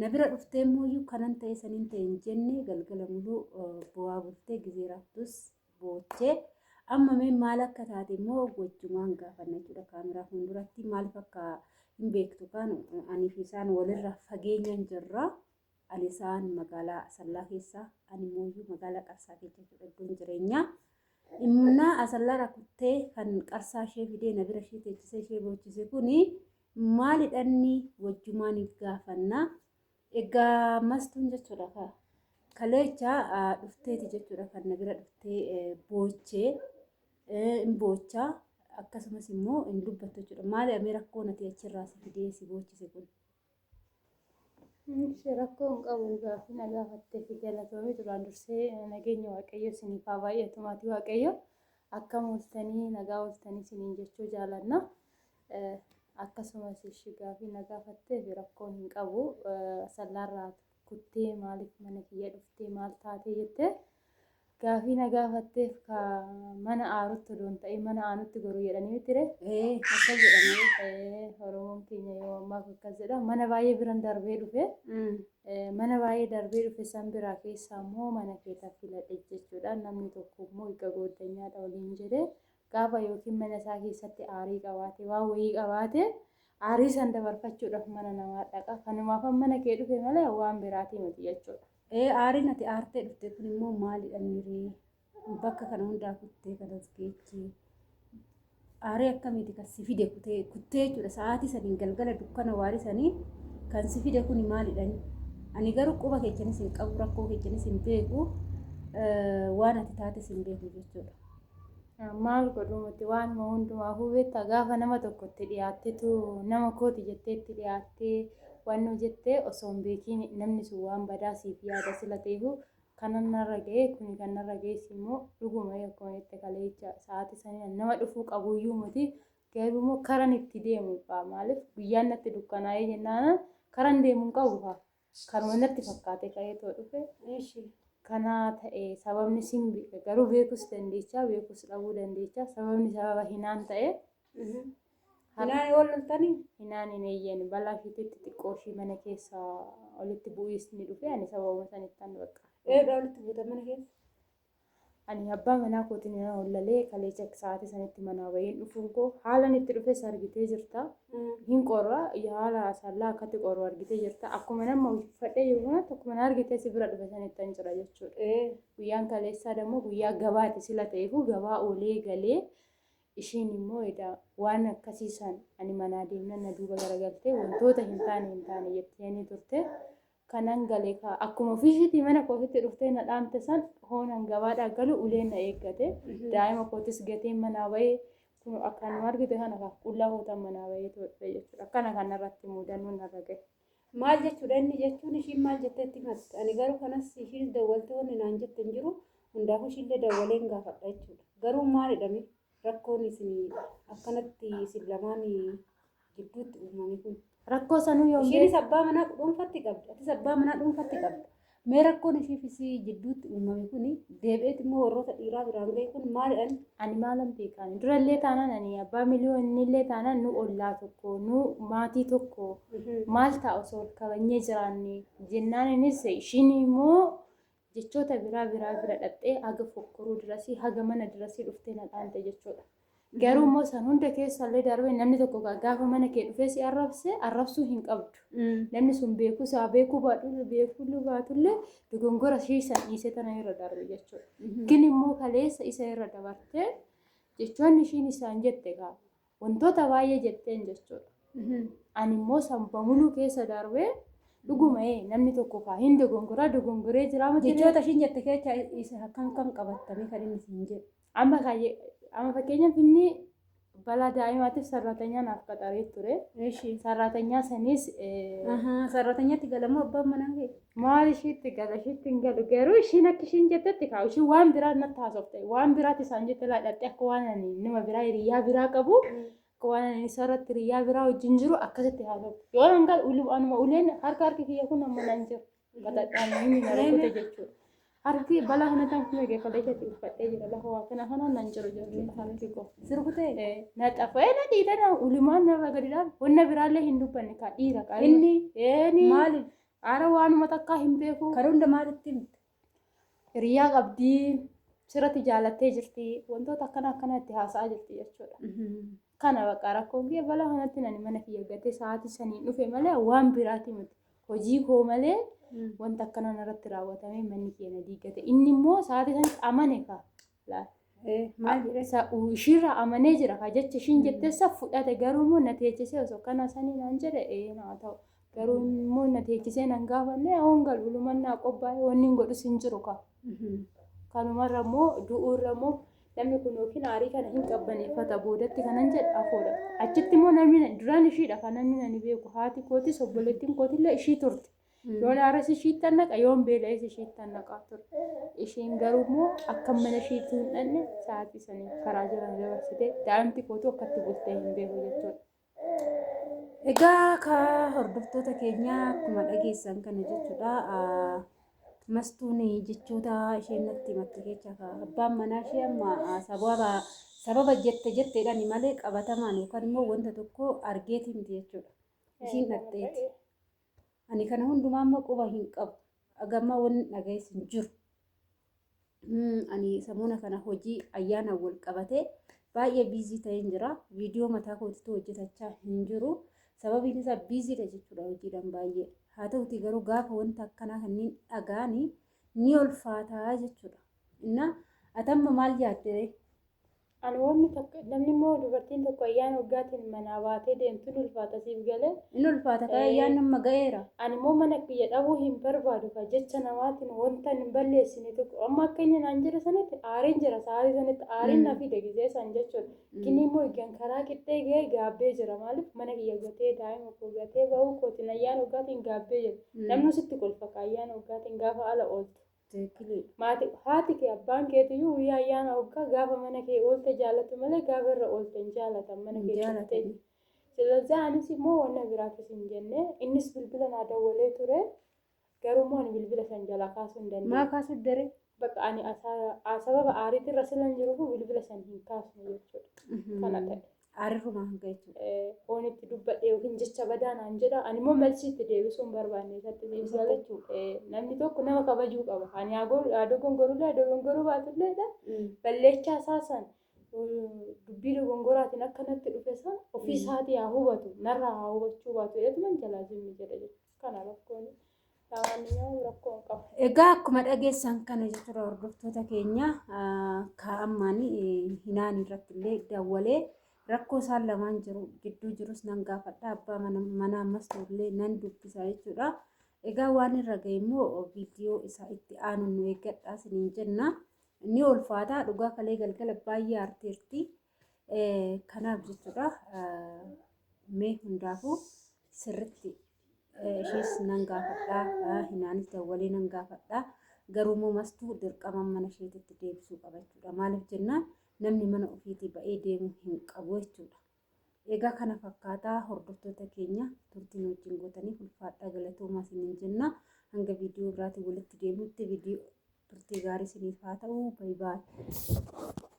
Na bira dhuftee immoo kanan ta'e saniin ta'e hin jenne galgala muluu bu'aa bultee gizee raaftus boochee amma mee maal akka taate immoo wajjumaan gaafanna jechuudha kaameraa fuulduratti maaliif akka hin beektu kaan anii fi isaan walirra fageenyaan jirra. Ani isaan magaalaa Asallaa keessa ani immoo magaalaa Qarsaa keessa jechuudha iddoon jireenyaa. Immunaa Asallaa rakuttee kan Qarsaa ishee fidee na bira ishee teechisee ishee boochise kuni Maali dhanni wajjumaan if gaafanna. Egaa mastuun jechuudha ka kaleecha dhufteeti jechuudha kan na bira dhuftee boochee hin boocha akkasumas immoo hin dubbattu jechuudha. Maali amee rakkoo nati achirraa si fidee si boochise kun. Ishee rakkoo hin qabu gaaffii na gaafattee fi galatoomii duraan dursee nageenya waaqayyo isiniif haa baay'atu maatii waaqayyo akkam ooltanii nagaa ooltanii isiniin jechuu jaalanna. Akkasumas ishi gaafii na gaafatteef rakkoo hin qabu asallaarraa kuttee maaliif mana kiyya dhuftee maal taatee jettee gaafii na gaafatteef ka mana aarutti odoo hin ta'in mana aanutti goruu jedhanii mitire ee akkas jedhanii ee oromoon keenya yoo ammaaf akkas jedha mana baay'ee biran darbee dhufe ee, mana baay'ee darbee dhufe san biraa keessaa immoo mana keeta filadhe jechuudha namni tokko immoo egaa gooddanyaadha waliin jedhe gaafa yookiin mana isaa keessatti aarii qabaate waan wayii qabaate aarii san dabarfachuudhaaf mana namaa dhaqa kanumaaf mana kee dhufe malee waan biraatii miti jechuudha. Ee aariin ati aartee dhufte kun immoo maalidha miiree bakka kana hundaa kuttee kanas geechee aarii akkamiiti kan si fide kutee kuttee jechuudha sa'aatii saniin galgala dukkana waarii sanii kan si fide kun maalidha ani garuu quba keechanis hin qabu rakkoo keechanis hin beeku waan ati taates hin beeku jechuudha. Maal godhu miti waanuma hundumaafuu beektaa gaafa nama tokko itti dhiyaattetu nama kooti jettee itti dhiyaattee waanuma jettee osoo hin beekiin namni sun waan badaa siif yaada sila ta'eefu kanan narra ga'e kuni kan narra ga'es immoo dhuguma akkuma jette kaleecha sa'aatii saniin nama dhufuu qabuyyuu miti garuu immoo karan itti deemu fa'a maaliif guyyaan natti dukkanaa'ee jennaana karan deemu hin qabu fa'a Kanuma natti fakkaate ka'eetoo dhufe. Eshi. Kana ta'e sababni sin beeka garuu beekus dandeechaa beekus dhabuu dandeechaa sababni sababa hinaan ta'e. Hinaan yoo loltanii? Hinaan hin eeyyeen balaa ishiititti xiqqoo ishii mana keessa olitti bu'iisni dhufe ani sababuma sanittan bakka. Eedha olitti buutan mana keessa? Ani abbaa manaa kootiin nan hollalee kaleecha sa'aatii sanitti manaa baheen dhufuun koo haalan itti dhufes argitee jirta. Hin qorra haala sallaa akkatti qorru argitee jirta. Akkuma nama uffadhee jiru kanatti akkuma na argitee si bira dhufe sanitti an jira jechuudha. Ee. Guyyaan kaleessaa dammoo guyyaa gabaati sila ta'eefuu gabaa oolee galee ishiin immoo edaa waan akkasii san ani manaa deemnan na duuba garagaltee wantoota hin taane hin taane jetteenii turte. kanan gale kaa akkuma ofiisiitii mana kootitti dhuftee na dhaamte san hoonan gabaadhaa galu uleen na eeggate daa'ima kootis gateen manaa bahee kun akkanuma argite kana kaa qullaa hootan manaa bahee toodhe jechuudha akkana kanarratti muudannoo narra gahe. Maal jechuudha inni jechuun ishiin maal jetteetti himatte ani garuu kanas ishiin dawwaltee wanni naan jette hin jiru hundaafuu ishiillee dawwaleen gaafadha jechuudha garuu maalidhame rakkoon isin akkanatti isin lamaan gidduutti uumame kun. Rakkoo sanuu yoom Ishiinis beeku? abbaa manaa dhuunfatti qabdi. Atis abbaa manaa dhuunfatti qabda. Mee rakkoon ishiif isii jidduutti uumame kun deebi'eet immoo warroota dhiiraa biraan ga'e kun maalidhaan Ani maalan beekaan? Durallee taanaan ani abbaa miliyoonillee taanaan nu ollaa tokko, nu maatii tokko maal ta'a osoo wal kabajnee jiraanne jennaan innis ishiin immoo Jechoota biraa biraa bira dhaqxee haga fokkoruu dirasii haga mana dirasii dhuftee na dhaante jechuudha. Garuu immoo san hunda keessa illee darbee namni tokko gaa- gaafa mana kee dhufee si arrabse arrabsuu hin qabdu. Namni sun beekuu isaa beekuu baadhu beekuu baatullee dogongora ishee san dhiisee tana irra darbe jechuudha. Gin immoo kaleessa isa irra dabartee jechoonni ishiin isaan jette gaa Wantoota baay'ee jetteen jechuudha. Ani immoo san bamuluu keessa darbee dhuguma ee namni tokko kaa hin dogongoraa dogongoree jiraa miti. Jechoota ishiin jette keessa isa kan kan qabattamee kan inni siin jedhu. Amma kaayye amma fakkeenyaaf inni balaa daa'imaatiif sarraatanyaan naaf qaxaree ture. Eshi. Sarraatanyaa sanis eh, Ahaa, sarratanyatti galamoo abbaan manaa kee? Maal ishiitti gala ishiitti hin galu garuu ishiin akka ishiin jettetti kaa'u ishiin waan biraa natti haasofte waan biraatti isaan jette laadhatte akka waan ani nama biraa hiriyyaa biraa qabu akka waan ani isa irratti hiriyyaa biraa wajjin jiru akkasitti haasofte yoo nan galu ulu anuma uleen harka harki kiyya kun amma nan jiru gaxadhaan inni na rukkute jechuudha. Harki balaa kana tan kun egaa kolee keetti uffadhee jira lafa waa kana kanaan nan jiru jechuudha harki koo. Sirkutee Eh, na xafee na dhiitana ulumaan narra gadi dhaab wanna biraallee hin dubbanne kaa dhiira kaa Inni? inni maali? Aara waanuma takkaa hin beeku. Kan hunda maalitti himta? Hiriyaa qabdii sirratti jaalattee jirti. Wantoota akkana akkana itti haasa'aa jirti jechuudha. Kana bakka rakkoon kee balaa kanatti nani mana kiyya gatee sa'aatii saniin dhufe malee waan biraati miti. Hojii koo malee wanta akkana narratti raawwatamee manni kiyya na diiggate. Inni immoo sa'aatii sanitti amane ka. Maal jedhee isaa ishiirraa amanee jira kaa jecha ishiin jetteessa fudhate garuu immoo na teechisee osoo kana sanii naan jedhe ee naa ta'u garuu immoo na teechisee nan gaafanne hoon galu luman naa qophaa'e wanni hin godhus hin jiru kaa kanumarra immoo du'uurra immoo namni kun yookiin aarii kana hin qabbaneeffata boodatti kanan jedhe afoodha achitti immoo namni duraan ishiidha kan namni nani beeku haati kootis obboleettiin kootillee ishii turte Yoon aares ishiittan naqa, yoon beela'es ishiittan naqaa ture. Ishiin garuu immoo akka mana ishiitti hin dhanne sa'aatii sanii karaa jiran dabarsitee daa'imti kootu akkatti bultee hin beeku jechuudha. Egaa ka hordoftoota keenyaa akkuma dhageessan kana jechuudha. Mastuun jechoota isheen natti himatte keessa abbaan manaa ishee amma sababa sababa jette jetteedhaan malee qabatamaan yookaan immoo wanta tokko argeeti miti jechuudha. Ishiin dhaqxeeti. Ani kana hundumaa immoo quba hin qabu. Agamma wanni dhaga'es hin jiru. Ani samuuna kana hojii ayyaanaan wal qabatee baay'ee biizii ta'een jira. Viidiyoo mataa kootitu hojjetachaa hin jiru. Sababiin isaa biiziidha jechuudha hojiidhaan baay'ee. Haa ta'uti garuu gaafa wanta akkanaa kanneen dhagaani ni ulfaataa jechuudha. Innaa atamma maal yaadde Ani wanni takka namni immoo dubartiin tokko ayyaana waggaatiin manaa baatee deemtu ni ulfaata siif galee. Ni ulfaata kan ayyaan nama ga'eera. Ani immoo mana kiyya dhabuu hin barbaadu kan jecha namaatiin wanta hin balleessine tokko amma akka inni naan jedhe sanatti aariin jira sa'aatii sanatti aariin na fide gisee san jechuudha. Gini immoo egaan karaa qixxee ga'ee gaabbee jira maaliif mana kiyya gatee daa'ima koo gatee ba'uu kootiin ayyaana waggaatiin gaabbee jira. Namni sitti kolfa kan ayyaana waggaatiin gaafa ala ooltu. Tikkilii. Maati haati kee abbaan keetiyyuu guyyaa ayyaana hoggaa gaafa mana kee oolte jaalatu malee gaafa irra oolte hin jaalatan mana kee cuftee. Silazaa anis immoo wanna biraafis hin jenne innis bilbila naa dawwalee ture garuu immoo ani bilbila san jalaa kaasuu hin dandeenye. Maa kaasuu didde? Bakka ani sababa aariitirra silan jiruuf bilbila san hin kaasne jechuudha. Kana ta'e. Arirrumaa hanga jechuudha. Foon itti dubbadhe yookiin jecha badaa naan jedha. Ani immoo malchi itti deebisuun barbaanne isatti deebisa jechuudha. Namni tokko nama kabajuu qaba. Ani haa dogongorullee haa dogongoruu baatulleedha. Balleechaa isaa san dubbii dogongoraatiin akka natti dhufe san ofii isaatii haa hubatu. Narraa haa hubachuu baatu. Eetuman jalaa zimmi jedha jechuudha. Kana rakkoon. Egaa akkuma dhageessan kana jechuudha hordoftoota keenya kaa'ammaan hinaan irratti illee dawwalee rakkoo isaan lamaan jiru gidduu jirus nan gaafadha abbaa mana ammas illee nan dubbisa jechuudha. Egaa waan irra ga'e immoo viidiyoo isaa itti aanu nu eeggadhaa isiniin jenna. Ni ulfaata dhugaa kalee galgala baay'ee aarteerti. Kanaaf jechuudha mee hundaafuu sirritti ishees nan gaafadhaa hinaanis dawwalee nan gaafadhaa garuu immoo mastuu dirqamaan mana isheetitti deebisuu qaba jechuudha maaliif jennaan namni mana ofiitii ba'ee deemuu hin qabu jechuudha. Egaa kana fakkaataa hordoftoota keenya turtiin wajjin gootanii ulfaadhaa galatoomaa isiniin jenna hanga viidiyoo biraatiin walitti deemutti viidiyoo turtii gaarii isiniif haa ta'u baay'ee.